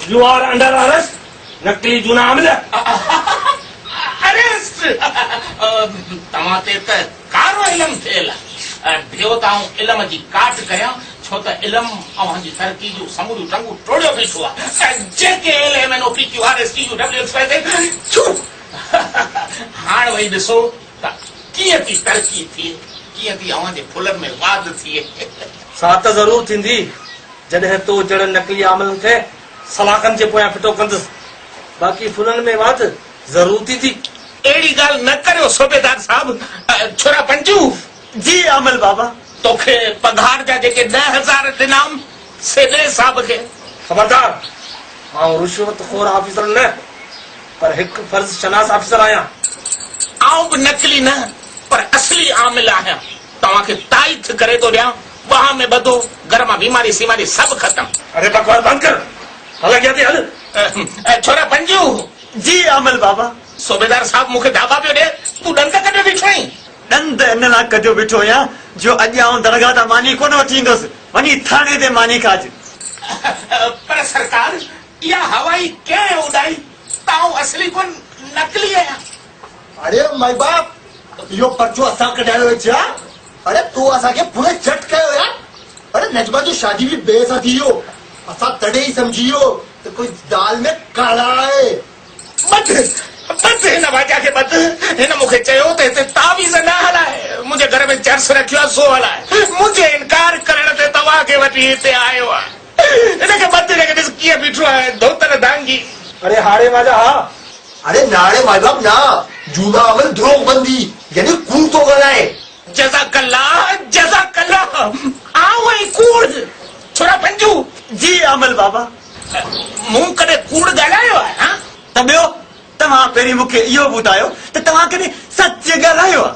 U are under arrest نقلي جون عامل. اريسٽ توهان تي ته ڪارو علم ٿيل آهي. ڀيو ته آئون علم جي ڪاٽ ڪريان ڇو ته علم اوهان جي ترقي جون سموريون ٽنگون ٽوڙيو بيٺو آهي. J K L M N O P Q R S T U W X Y Z ڇو هاڻ وئي ڏسو ته ڪيئن ٿي ترقي ٿئي ڪيئن ٿي اوهان جي ڦلن ۾ واڌ ٿئي. سا ته ضرور ٿيندي. جڏهن تو جهڙن نقلي عاملن کي سلاخن جي پويان ڦٽو ڪندس، باقي ڦلن ۾ واڌ ضرور ٿيندي. اهڙي ڳالهه نه ڪريو صوبيدار صاحب، ڇورا پنجو! جي عامل بابا! توکي پگهار جا جيڪي ڏهه هزار ڏنائم، سي ڏي صاحب کي. خبردار! آئون رشوت خور آفيسر نه، پر هڪ فرض شناس آفيسر آهيان. آئون به نقلي نه، پر اصلي عامل آهيان. توهان کي تائيد ٿي ڪري ٿو ڏيان ٻانهن ۾ ٻڌو گهر مان بيماري سيماري سڀ ختم. اري بڪواس بند ڪر هل اڳيان تي هل. ڇورا بنجيون. جي عامل بابا. صوبيدار صاحب مون کي ڊاٻا پيو ڏي تون ڏند ڪڍيو بيٺو آهين. ڏند ان لا ڪڍيو بيٺو آهيان جو اڄ آئون درگاهه تان ماني ڪونه وٺي ايندس وڃي ٿاڻي تي ماني کاج. پر سرڪار اها هوا ئي ڪنهن اڏائي ته آئون اصلي ڪونه نقلي آهيان. اڙي مائي باپ اهو پرچو اسان ڪڍايو هي ڇا اڙي تو اسان کي پوري چٽ ڪيو يار اڙي نجمه جو شادي به ٻئي سان ٿي ويو اسان تڏهن ئي سمجهي ويو ته ڪوئي دال ۾ ڪالا آهي. ٻڌ بس هن واجا کي ٻڌ هن مون کي چيو ته هتي تعويذ نه هلاء منهنجي گهر ۾ جرس رکيو آهي سو هلاء منهنجي انڪار ڪرڻ تي توهان کي وٺي هتي آيو آهيان. ان کي مت رک، ڏس ڪيئن بيٺو آهي ڌوتل دانگي. اڙي هاڙي ماجا ها. اڙي نا اڙي مائي باپ نا. جونا امل دروغ بندي يعني ڪوڙ ٿو ڳالهائي. جزاڪ الله جزاڪ الله آئون ۽ ڪوڙ ڇورا پنجو. جي امل بابا. مون ڪڏهن ڪوڙ ڳالهايو آهي ها. ته ٻيو توهان پهرين مون کي اهو ٻڌايو ته توهان ڪڏهن سچ ڳالهايو آهي.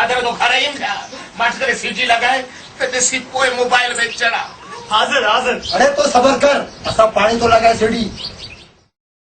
اڌ اڌ گهر ايم ٿيا مٺ ڪري سي ڊي لڳائي ته ڏسي پوء موبائل ۾ چڙا. حاضر حاضر. اڙي تو صبر ڪر اسان پاڻي تو لڳائي سي ڊي.